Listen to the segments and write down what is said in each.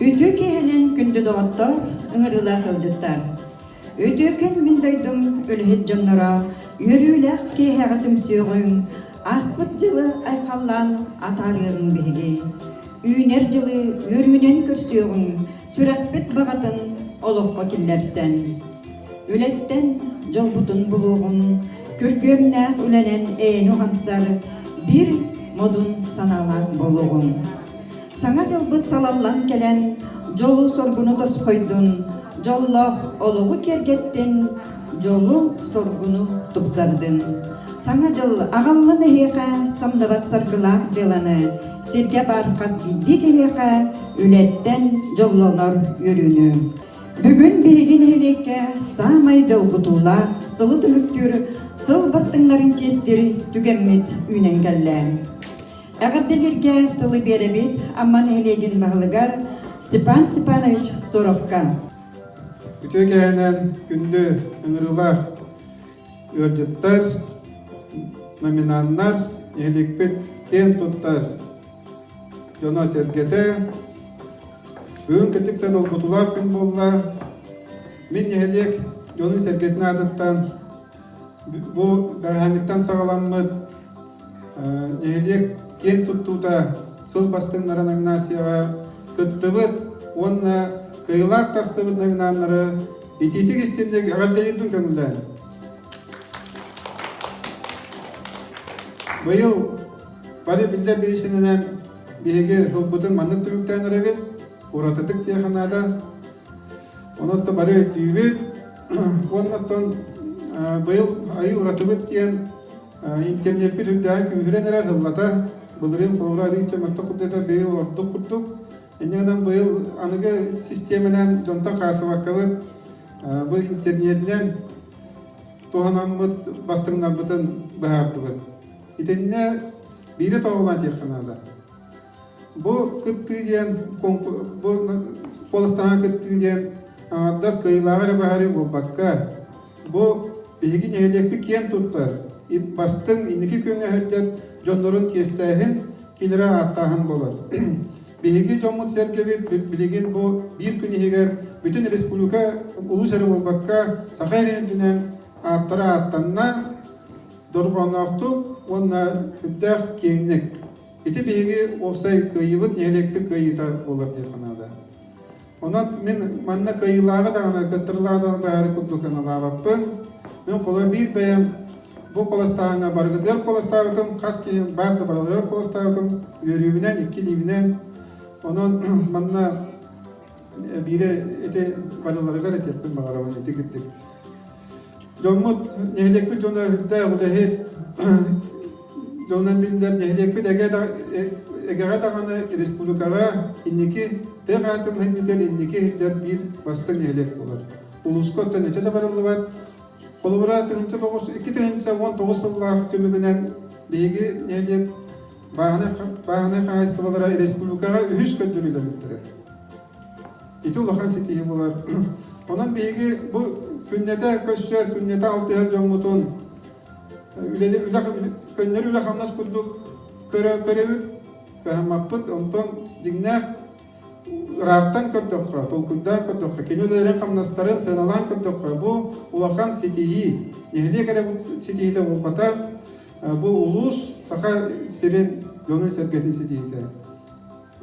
Үтүө киэһэлин күндү доҕоттор, ыҥырыылаах ыалдьыттар! Үтүөкэн мин дойдум үлэһит дьонноро, үөрүүлээх киэһэҕэ түмсүөҕүҥ, Ааспыт дьылы айхаллаан атаарыаҕыҥ биһиги. Үүнэр дьылы үөрүүнэн көрсүөҕүҥ, сүрэхпит баҕатын олоххо киллэрсэн. Үлэттэн дьолбутун булуоҕум, күргүөмнээх үлэнэн эйэни уһансар биир модун санаалаах буолуоҕуҥ. Саҥа дьылбыт салаллан кэлэн, дьолу-соргуну тосхойдун, дьоллоох олоҕу киэргэттин, дьолу-соргуну тупсардын. Саҥа дьыл аҕаллын эһиэхэ самныбат саргылаах дьыаланы сиргэ баар хас биирдии киһиэхэ үлэттэн дьоллонор үөрүүнү. Бүгүн биһиги нэһилиэккэ саамай долгутуулаах сылы түмүктүүр сыл бастыҥнарын чиэстир түгэммит үүнэн кэллэ. Эҕэрдэ бииргэ тылы биэрэбит Амма нэһилиэгин баһылыгар Степан Степанович Соровка. Үтүө кэһэнэн күндү ыҥырыылаах ыалдьыттар, номинаннар, нэһиликпит киэн туттар дьоно-сэргэтэ, бүгүн кытыктан долгутуулаах күн буолла. Мин нэһилиэк дьонун-сэргэтин аатыттан Бу бэҕэһээҥҥиттэн саҕаламмыт нэһилиэк киэн туттуута сыл бастыҥнара номинацияҕа кыттыбыт уонна кыайыылаах тахсыбыт номинааннары итиитик истинник эҕэрдэлиирбин көҥүллээн быйыл бары биллэр бириичинэнэн биһиги ылбытын маннык түмүктээн эрэбит уратытык диэхэ наада онон бары өйдүүбүт Уоннаттан быйыл айыы уратыбыт диэн интернетпит үрдээҕи күүһүрэн эрэр ыллата былырыын холобура арыы төмөртө курдата быйыл ордук курдук иннинэн быйыл аныгы систиэмэнэн дьонтон хаасыбаккабыт бу интернетинэн туһанаммыт бастыҥнарбытын быһаардыбыт итиннэ биири тоҕулаан диэххэ наада Бу кыттыы диэн бу куоластанан кыттыы диэн аҥардас кыайыылааҕы эрэ баһарыы буолбакка, бу биһиги нэһилиэкпит киэн туттар, бастыҥ инники күҥҥэ сылдьар дьоннорун чиэстээһин, кинилэри ааттааһын буолар. Биһиги дьоммут-сэргэбит билигин бу биир күн иһигэр бүтүн республика улуус эрэ буолбакка, Саха сирин үрдүнэн ааттара ааттанна, дорҕоонноохтук уонна сүрдээх киэҥник. Ити биһиги уопсай кыайыыбыт нэһилиэкпит кыайыыта буолар дии санаата. Онон мин манна кыайыылааҕы даҕаны кыттырылаах баары курдук саналаабаппын. Мин холо биир бэйэм бу куоластааһыҥҥа барыгыт ыар куоластаабытым, хас киһи баар да барыгыт ыар куоластаабытым, үөрүүбүнэн, иккилиибинэн. Онон манна биирэ ити Валяларыгар этиэхпин баҕарабын ити кырдык дьоммут нэһилиэкпит дьоно үрдээх үлэһит дьонун биллэр нэһилиэкпит эгэҕэ даҕаны республикаҕа инники тыа хаастымыһынньытыгар инники сылдьар биир бастыҥ нэһилиэк буолар улууска оттон эчэ да барыллыбат холобура тыһынча тоҕус икки тыһынча уон тоҕус сыллаах түмүгүнэн биһиги нэһилиэк бааһынай хаһаайыстыбалара республикаҕа үһүс көрдөрүүлэриттэрэ. Ити улахан ситиһи булар. Онон биһиги бу күннэтэ көрсөр, күннэтэ алтыһар дьоммутун көннөрү үлэ-хамнас курдук көрөбүт, кыһаммаппыт. Онтон дьиҥнээх ыраахтан көрдөххө, толкуйдаан көрдөххө, кини үлэлэрин-хамнастарын сыаналаан көрдөххө, бу улахан ситиһии. Нэһилиэк эрэ ситиһиитэ буолбатах, Бу улуус Саха сирин дьоно-сэргэтин ситиһиитэ.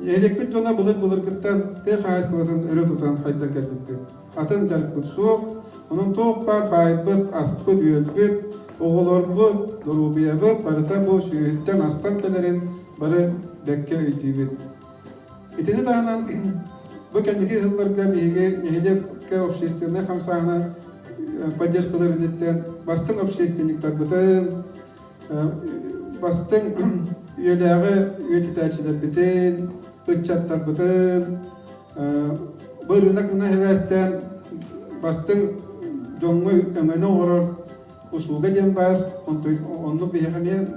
Эһилекпит дьоно былыр-былыргыттан тыа хаһаайыстыбатын өрө тутан хайдан кэлбиппит. Атын дьарыкпыт суох, онон туох баар баайбыт, аспыт, үөлбүт, оҕолорбут, доруобуйабыт барыта бу сүүһүттэн астан кэлэрин бары бэккэ өйдүүбүт. Итини таһынан бу кэнники сылларга биһиги нэһилиэккэ общественнай хамсааһына поддержкалар инниттэн бастыҥ общественниктарбытын, бастыҥ үйэлээҕи үйэтитээччилэрбитин, ыччаттарбытын бу ырыынак гына сибээстээн бастыҥ дьоҥҥо өҥөнү оҥорор Услуга диэн баар, оннук биһиэхэ эмиэ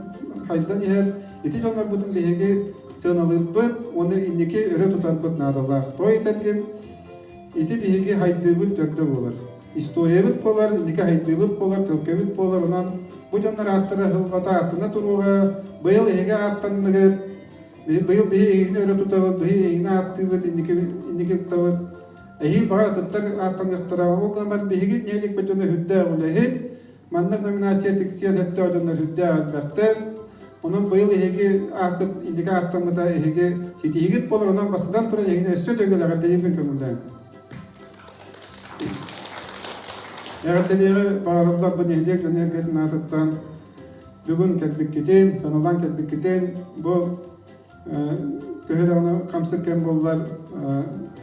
хайдан иһэр. Ити дьоннорбутун биһиги сыаналыырбыт уонна инники өрө тутарбыт наадалаах. Той этэргин, ити биһиги хайдыыбыт төрдө буолар. Историябыт буолар, инники хайдыыбыт буолар, төлкөбүт буолар. Онон бу дьоннор ааттара аһылҕата ааттана туруоҕа. Быйыл эһиги ааттанныгыт, быйыл биһи эһигини өрө тутабыт, биһи эһигини ааттыыбыт, инники инники ыктабыт. Эһиги баҕар атыттар ааттаныахтара, ол гынан биһиги нэһилик бөтөнө үрдээх үлэһит, манна номинация тиксиэн сөптөөх дьоннор үрдээх элбэхтэр. Онон быйыл эһиги ааккыт инники ааттаммыта эһиги ситиһигит буолар, онон бастатан туран эһиги өссө төгүл эҕэрдэлиирбин көҥүллээн. Эҕэрдэлиэҕи баҕарылларбын нэһилиэк дьон эргэтин аатыттан бүгүн кэлбиккитин, кыналан кэлбиккитин, бу төһө даҕаны хамсыр кэм буоллар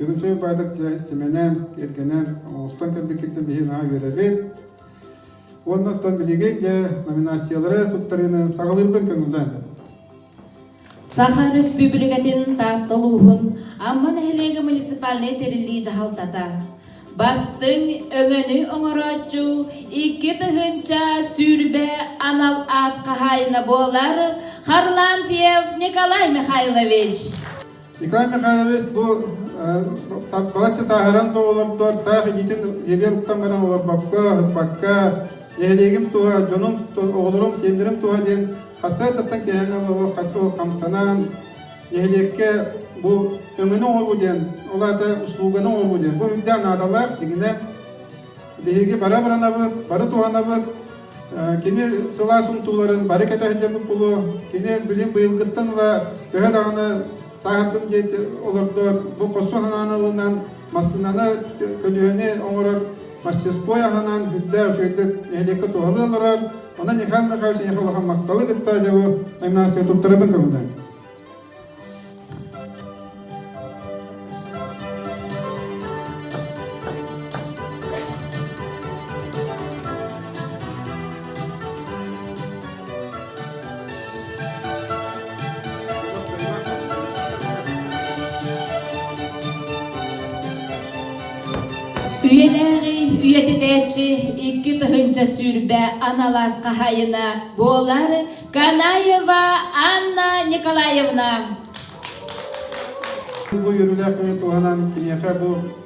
Дьөгүмсүөй баайдах дьэ симэнэн, кэргэнэн оҥостон кэлбиккиттэн биһиги наһаа үөрэбит. Уонна оттон билигин дьэ номинациялары туттарыыны саҕалыырбын көҥүллээн Саха Өрөспүүбүлүкэтин Таатта улууһун Амма нэһилиэгэ муниципальнай тэриллии дьаһалтата Бастыҥ өҥөнү оҥорооччу икки тыһыынча сүүрбэ анал аат хаһаайына буолар Харлампьев Николай Михайлович. Николай Михайлович бу балачча сааһыран бу олордор таах илиитин сиэлигэр уктан баран олорбокко, ытпакка, нэһилиэгим туһа, дьонум, оҕолорум, сиэннэрим туһа диэн хасыатыттан киэһэҥ олох хамсанан, нэһилиэккэ бу өҥөнү оҥоруу диэн, ол аата услуганы оҥоруу диэн, бу үрдэ наадалаах. Дьиҥинэ биһиги бары абыранабыт, бары туһанабыт. Кини сылаас умтууларын бары кэтэ сылдьаммыт буолуо. Кини билим быйылгыттан ыла төһө даҕаны саахардын дьиэ олордор, бу хосу санаан ылынан массыынаны, көлүөһэни оҥорор Мастерской аһынан сүрдээх үчүгэйдик нэһилиэккэ туһалыы олорор. Онон Михаил Михайлович эйиэхэ улахан махталы кытта дьабы Гимнастия туттарабын көҥүлдэн. үйэлээҕи үйэтитээччи икки тыһыынча сүүрбэ аналаат хаһайына буолар Канаева Анна Николаевна. Бу үөрүүлээх туһанан киниэхэ бу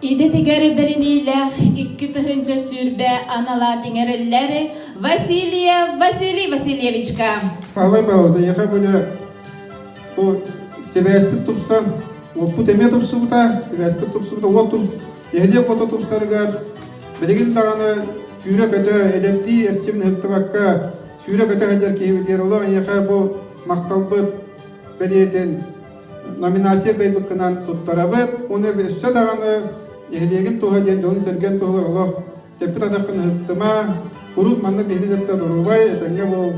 Идэтигэр бэриниилээх икки тыһыынча сүүрбэ аналаат иҥэриллэр Василия Василий Васильевичка. Алабау заехал были бу сибээспит тупсан уоппут эмиэ тупсубута сибээспит тупсубута уот туп нэһилиэк ото тупсарыгар билигин даҕаны сүүрэ-көтө эдэптии эрчимин ыһыктыбакка сүүрэ-көтө сылдьар киһибитигэр олох эйиэхэ бу махталбыт бэлиэтин номинация кыайбыккынан туттарабыт уонна өссө даҕаны нэһилиэгин туһа диэн дьонун-сэргэн туһугар олох тэппит атаххын ыһыктыма куруук маннык биһиги кытта доруобай этэҥҥэ буол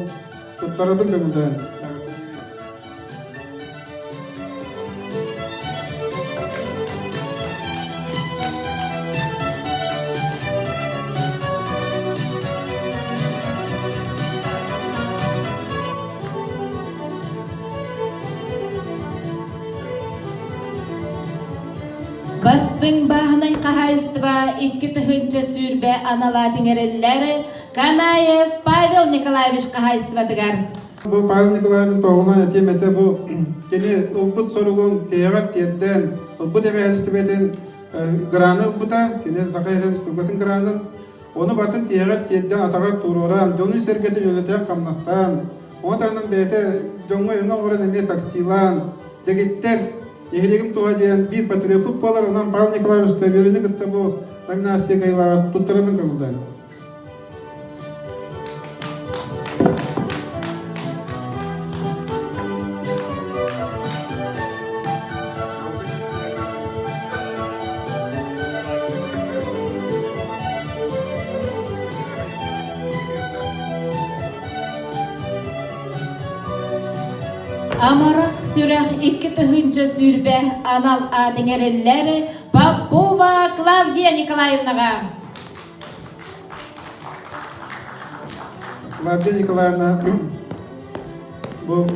туттарабын дэгулдаан Бастыҥ бааһынай хаһаайыстыба икки тыһыынча сүүрбэ аналаат иҥэриллэр Канаев Павел Николаевич хаһаайыстыбатыгар. Бу Павел Николаевич тоҕулан этиэм этэ бу кини ылбыт соругун тиһэҕэр тиэрдээн ылбыт эбэһээтистибэтин граны ылбыта кини Саха Республикатын гранын ону бартын тиһэҕэр тиэрдээн атаҕар туруораан дьону сэргэтин үлэтэ хамнастаан От аанын бэйэтэ дьоҥҥо өҥө оҥорон эмиэ таксилаан, дэгиттэр, нэһилиэгим туһа диэн биир патриофут буолар, онон Павел Николаевич Көбүөрүнү кытта бу Тагнасия Кайлаҕа туттарабын көҥүллэн. Амарах сүрэх икки тыһыынча сүүрбэ анал аатын эрэллэр Попова Клавдия Николаевнаҕа. Клавдия Николаевна бу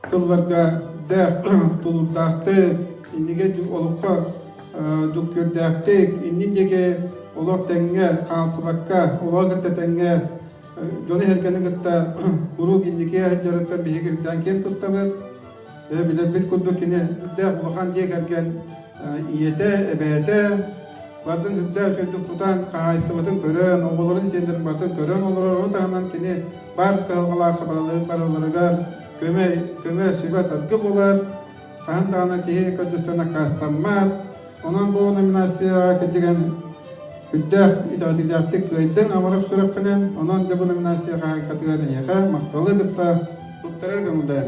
сылларга да тулурдаахтык, инигэ олоххо дуккүөрдээхтик, иннин диэки олох тэҥҥэ хаалсыбакка, олох кытта тэҥҥэ дьону эһэргэни кытта куруук инники дьарыктан биһиги үрдээн киэн туттабыт. Билэрбит курдук кини үрдээх улахан дьиэ кэргэн ийэтэ, эбээтэ барытын үптэ үчүгэйдик тутан хаһаайыстыбатын көрөн, оҕолорун сиэннэрин барытын көрөн олорор. Ону таһынан кини баар кыһалҕалаахха барыларыгар көмө, көмө сүбэ-саргы булар. Хаһан даҕаны киһи көрдөстөн аккаастаммат. Онон бу номинацияҕа кирдигэн үрдээх итэҕэтиилээхтик кыайдыҥ амарах сүрэххинэн. Онон дьэ бу номинация хаһаайкатыгар эйиэхэ махталы кытта туттарар көҥүллээн.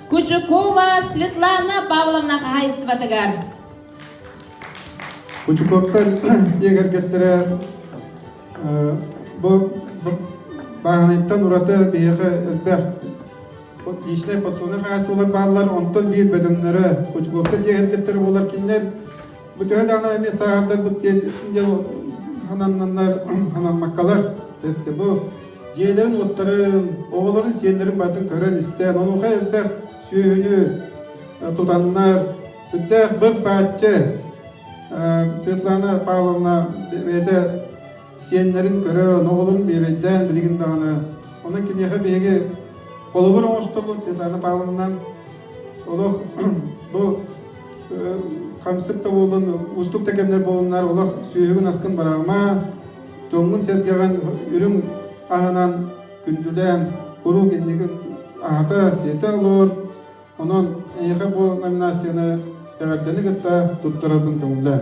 Кучукова Светлана Павловна хаһаайыстыбатыгар. Кучуковтар дьиэ кэргэттэрэ бу бааһынайтан ураты биһиэхэ элбэх личнэй подсобнай хаһаайыстыбалар бааллар, онтон биир бөдөҥнөрө Кучуковтар дьиэ кэргэттэрэ буолар кинилэр Бу төһө даҕаны эмиэ сааһырдарбыт диэн хананнаннар хананмаккалар бу дьиэлэрин-уоттарын, оҕолорун сиэннэрин барытын көрөн-истэн, онуоха элбэх сүөһүнү тутаннар, сүрдээх быр-бааччы Светлана Павловна бэйэтэ сиэннэрин көрөн, оҕолорун биэбэйдээн билигин даҕаны. Онон киниэхэ биһиги холобур оҥостобут Светлана Павловнан Олох бу хамсык да буолан уустук да кэмнэр буоланнар олох сүөһүгүн аскын бараама, тоҥҥун сэргэҕин үрүҥ аһынан күндүлээн куруук иннигин аһата, сиэтэ олоор. Онон эйиэхэ бу номинацияны эҕэрдэни кытта туттарарбын көҥүллээн.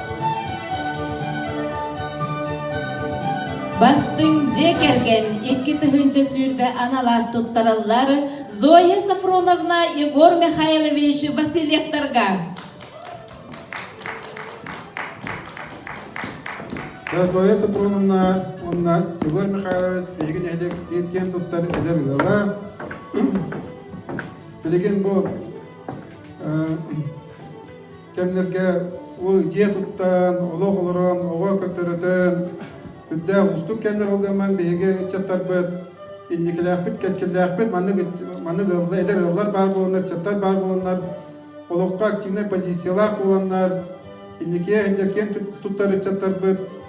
Бастыҥ дьиэ кэргэн икки тыһыынча сүүрбэ аналаат туттараллар Зоя Сафроновна Егор Михайлович Васильевтарга. Зоя Сафроновна уонна Егор Михайлович эһиги нэһилиэк киэн туттар эдэр ыала. Билигин бу кэмнэргэ дьиэ туттан, олох олорон, оҕо көрдөрөтөн, үрдээх уустук кэмнэр олгоммын биһиги ыччаттарбыт инникилээхпит, кэскиллээхпит, маннык, маннык ыаллар, эдэр ыаллар баар буоланнар, ыччаттар баар буоланнар, олоххо активнай позициялаах буоланнар, инникигэ иһин киэн туттар ыччаттарбыт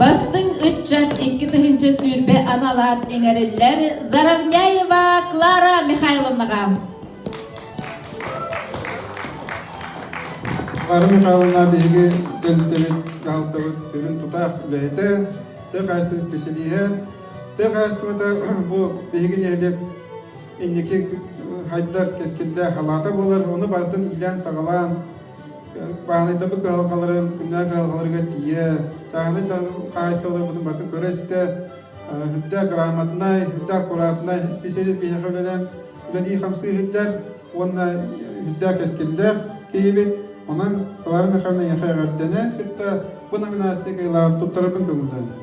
Бастыҥ ыччат икки тыһыынча сүүрбэ аналаат иҥэриллэр Заровняева Клара Михайловнаҕа. Клара Михайловна биһиги кэлитэбит, дьаһалтабыт сүрүн тутаах үлэһитэ, тыа хаһаайыстыба исписэлииһэ, тыа хаһаайыстыбата бу биһиги нэһилиэк инники хайдар кэскиллээх халаата буолар, ону барытын иилээн-саҕалаан, бааһынайтарбыт кыһалҕаларын күннээх кыһалҕаларыгар тиийэ тааһынай хаһаайыстыбаларбытын барытын көрө-истэ үрдээх грамотнай, үрдээх аккуратнай специалист биһиэхэ үлэлээн үлэлии хамсыы сылдьар уонна үрдээх кэскиллээх киһибит. Онон Клара Михайловна эйиэхэ эҕэрдэнэн кытта бу номинация кыайылаҕын туттарарбын көҥүллэбин.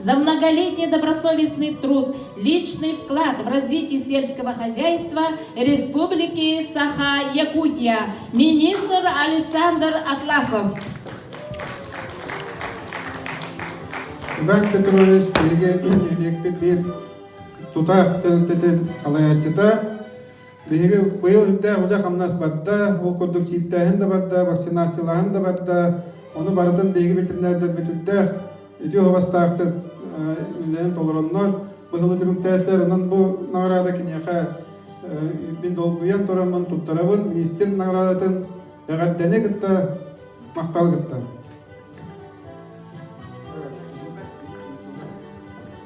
за многолетний добросовестный труд, личный вклад в развитие сельского хозяйства Республики Саха-Якутия, министр Александр Атласов. Үбәк Петрович биһиги нэһилиэкпит биир тутаах тэрилтэтин халайаччыта. Биһиги быйыл үрдээх үлэ-хамнас барда, ол курдук чииптээһин да барда, вакцинациялааһын да барда. Ону барытын биһиги ветеринардарбыт үрдээх ити уһабастаахтык үлэлэрин толороннор быһылы түмүктээтилэр онон бу наҕараада киниэхэ мин долгуйан тураммын туттарабын министр наҕараадатын бэҕэрдэни кытта махтал кытта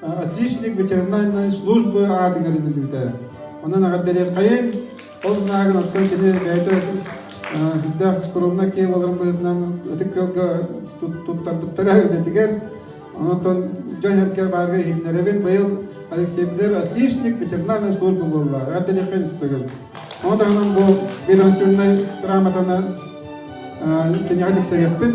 отличник ветеринарной службы аатыгар идилибите онон агардарыаркайын ол санааһыгын оттон кини бэйэтэ сүрдээх скромна киеваларын быһытынан ытык кыалга туттарбыттара үлэтигэр онон дьон эргэ баарга иһиннэрэбин быйыл алексеевдер отличник ветеринарной служба буолла агардарыаркай институтугун ону таһынан бу ведомственнай грамотаны киниэхэ тиксэриэхпит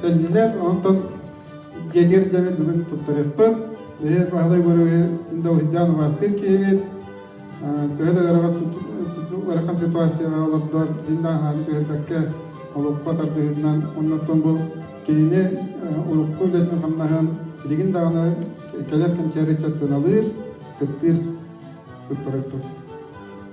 Кэллилэр, онтон дьиэтигэр дьэбит бүгүн туттарыахпыт. Бэһи Баһылай Гөрөһү да уһуйдаан убаастыыр киһибит. Төһө да ыарахан ситуацияҕа олордор, иннааһааны түһэрбэккэ олоххо тардыһыннан, оннуттан бу кинини урукку үлэтин-хамнаһын билигин даҕаны кэлэр кэмчээри ыччат сыаналыыр, кыттыыр, туттарыахпыт.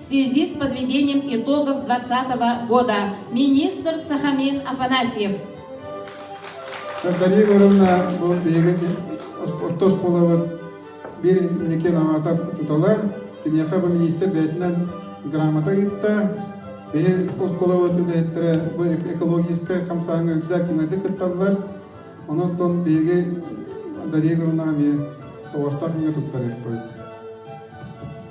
В связи с подведением итогов 2020 года министр Сахамин Афанасьев. Дарья Егоровна бу биһиги орто оскуолабыт биир инникин аҥата учутала, киниэхэ бу министр бэйэтинэн грамота ыытта. Биһи оскуолабыт үлэһиттэрэ бу экологическай хамсааһыҥҥа үрдээх дьиҥэтик кытталлар. Онон биһиги Дарья Егоровнаҕа эмиэ соҕустаах күҥҥэ туттарыахпыт.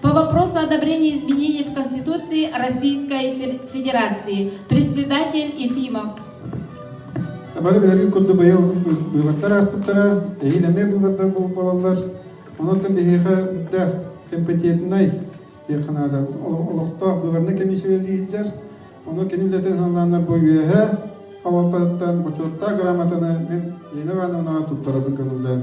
по вопросу одобрения изменений в Конституции Российской Федерации. Председатель Ефимов. Бары билэргин курдук быйыл быыбардар ааспыттара эһиил эмиэ быыбардар буолуп балалар. Онон биһиэхэ үрдээх компетентнай диэххэ наада олохтоох быыбарнай комиссиялииддер ону кини үлэтин саналаанар бу үөһэ халалтатыттан бочуоттаах грамотаны мен Ирина Ивановнаҕа туттарабын көҥүллээн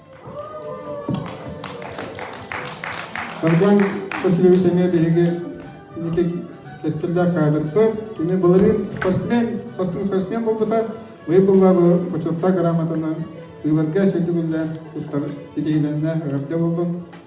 Сарган Васильевич эмиэ биһиги инники кэскиллээх каадырга. Кини былырыын спортсмен, бастыҥ спортсмен буолбута. Выпуллаабы Хочуоттаа грамотанан ыыларга чөлүгүллээн туттар ситиһилэннэ, эҕэрдэ буллун.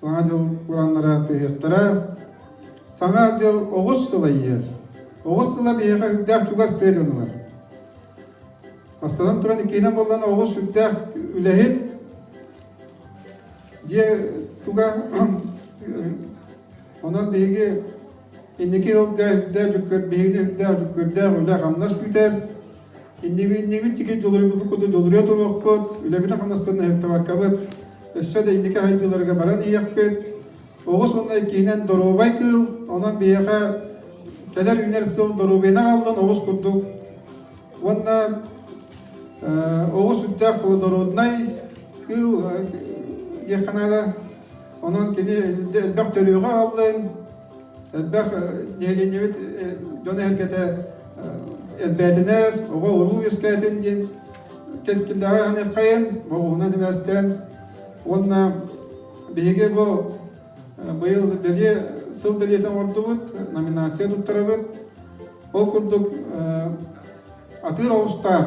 Саҥа дьыл ураннара тыаһыахтара. Саҥа дьыл оҕус сыла иһэр. Оҕус сыла биһиэхэ үрдээх чугас тыа дьонугар. Бастатан туран иккиһинэн буоллан оҕус үрдээх үлэһит. Дьиэ туга онон биһиги инники ыылга үрдээх дьүккүр биһигини үрдээх дьүккүрдээх үлэ хамнас күүтэр. Иннигин тиги дьулуйбуппут куту дьулуйа туруохпут, үлэбит-хамнаспытын ыһыктыбаккабыт, өссө да инники сайдыыларга баран иһиэхпит. Оҕус уонна иккиһинэн доруобай кыыл, онон биһиэхэ кэлэр үүнэр сыл доруобуйаны аҕаллын оҕус курдук. Уонна оҕус сүрдээх плодороднай кыыл диэххэ наада. Онон кини элбэх төрүөҕү аҕаллын, Элбэх нэһилиэнньэбит дьон эһэргэтэ элбээтинэр, оҕо-уруу үөскээтин диэн кэскиллээҕи аһыныаххайын, оҕуһунан үбээстээн уонна биһиги бу быйыл бэлиэ сыл бэлиэтин оҥордубут, номинация туттарабыт. Ол курдук атыыр оҕустаах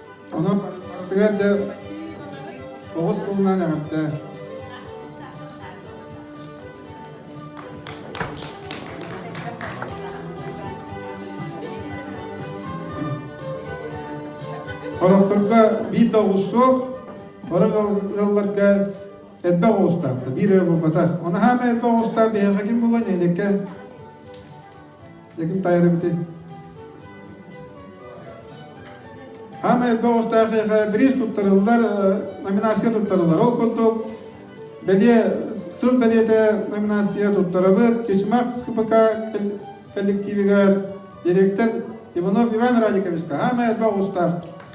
Онон барытыгар дьэ тоҕус сылынан эҕэрдэ. Хорохторго биир да оҕус суох, орох ыалларга элбэх оҕустаахта, биир эрэ буолбатах. Онаһаама элбэх оҕустаах биһиэхэ ким буолуо нэһилиэккэ? Эгин тайырыбыты. Ама элбе оҕустаах эха бириз туттарыллар, номинация туттарыллар. Ол курдук, бэлиэ сыл бэлиэтэ номинация туттарабыт. Чычымах КПК коллективигар директор Иванов Иван Радиковичка. Ама элбе оҕустаах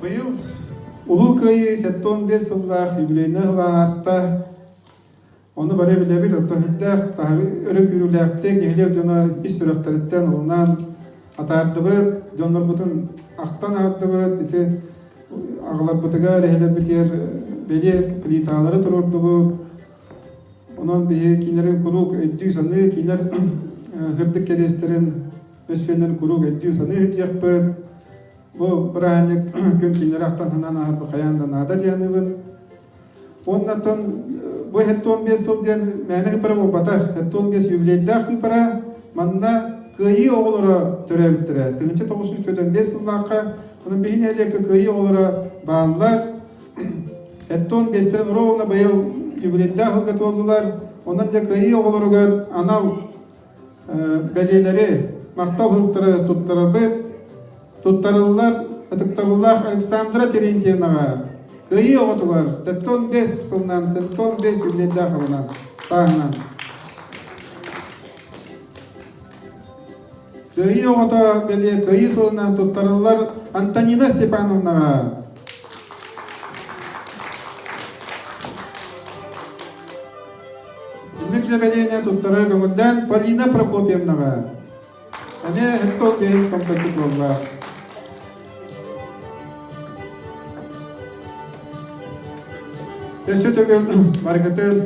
Быйыл Улуу Кыайыы сэттуон биэс сыллаах юбилейнай сыл ааста. Ону бары билэбит, өркөһүрдээх, таһы өрөкүүрүүлээхтик нэһилиэк дьоно ис сүрэхтэриттэн ылынан атаардыбыт, дьоннорбутун ахтан аһардыбыт, ити аҕаларбытыгар, эһэлэрбитигэр бэлиэ плиталары туруордубут, Онон биһи киинэрин куруук өйдүү-саныы, киинэр сырдык кэриэстэрин мөссүөннэрин куруук өйдүү-саныы сылдьыахпыт. Бу бырааһынньык күн киинэри ахтан санаан ааһарбыт хайаан да наада диэн аныыбыт. Уонна оттон бу сэттэ уон биэс сыл диэн мээнэ ыйпара буолбатах. Сэттэ уон биэс юбилейдаах ыйпара. Манна кыайыы оҕолоро төрөөбүттэрэ. Тыһыынча тоҕус сүүс төрдөн биэс сыллаахха. Онон биһи нэһилиэккэ кыайыы оҕолоро бааллар. Эттон Бестен ровно быйыл юбилейдаах ыалга туолдулар. Онон дьэ кыайыы оҕолоругар анал бэлиэлэри, махтал суруктары туттарарбыт туттарыллар ытыктабыллаах Александра Терентьевнаҕа кыайыы оҕотугар сэттон бэс сылынан сэттон бэс юбилейдаах алынан сааһынан Кыайыы оҕото бэлиэ кыайыы сылынан туттарыллар Антонина Степановнаҕа. Инник заявление туттарар көҥүллээн Полина Прокопьевнаҕа. Аны хэттон бэйин тоҥточчу буолла. Өссө төгүл барыгытын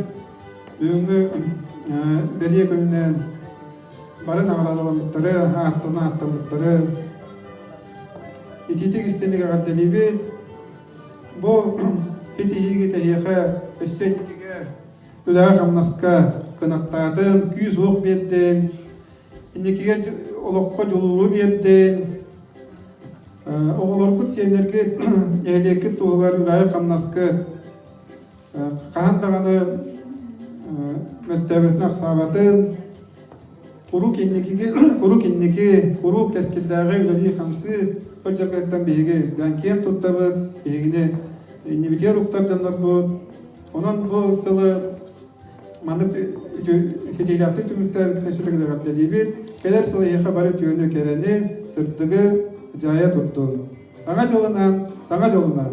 бүгүҥҥү бэлиэ күнүнэн бары наҕараадаламмыттары, ааттан ааттаммыттары итиитик истинник эҕэрдэлиибит. Бу итиһиигэ тэһиэхэ, өссө итиигэ үлэҕэ-хамнаска кынаттаатын, күүс-уох биэрдин, инникигэ олоххо дьулууру биэрдин. Оҕолоргут, сиэннэргит, нэһилиэккит туһугар үлэҕэ-хамнаска хаһан даҕаны мөлтөөбүтүн ахсаабатын куруук инникиги куруук инники куруук кэскилдээҕи үлэлии-хамсыы ол дьаргыттан биһиги үрдээн киэн туттабыт биһигини иннибитигэр уктар дьоннорбут онон бу сылы маннык хитиилээхтик түмүктэр нөсүтүк эҕэрдэлиибит кэлэр сыл эһиэхэ бары үтүөнү кэрэни сырдыгы дьаайа турдун саҥа дьылынан саҥа дьолунан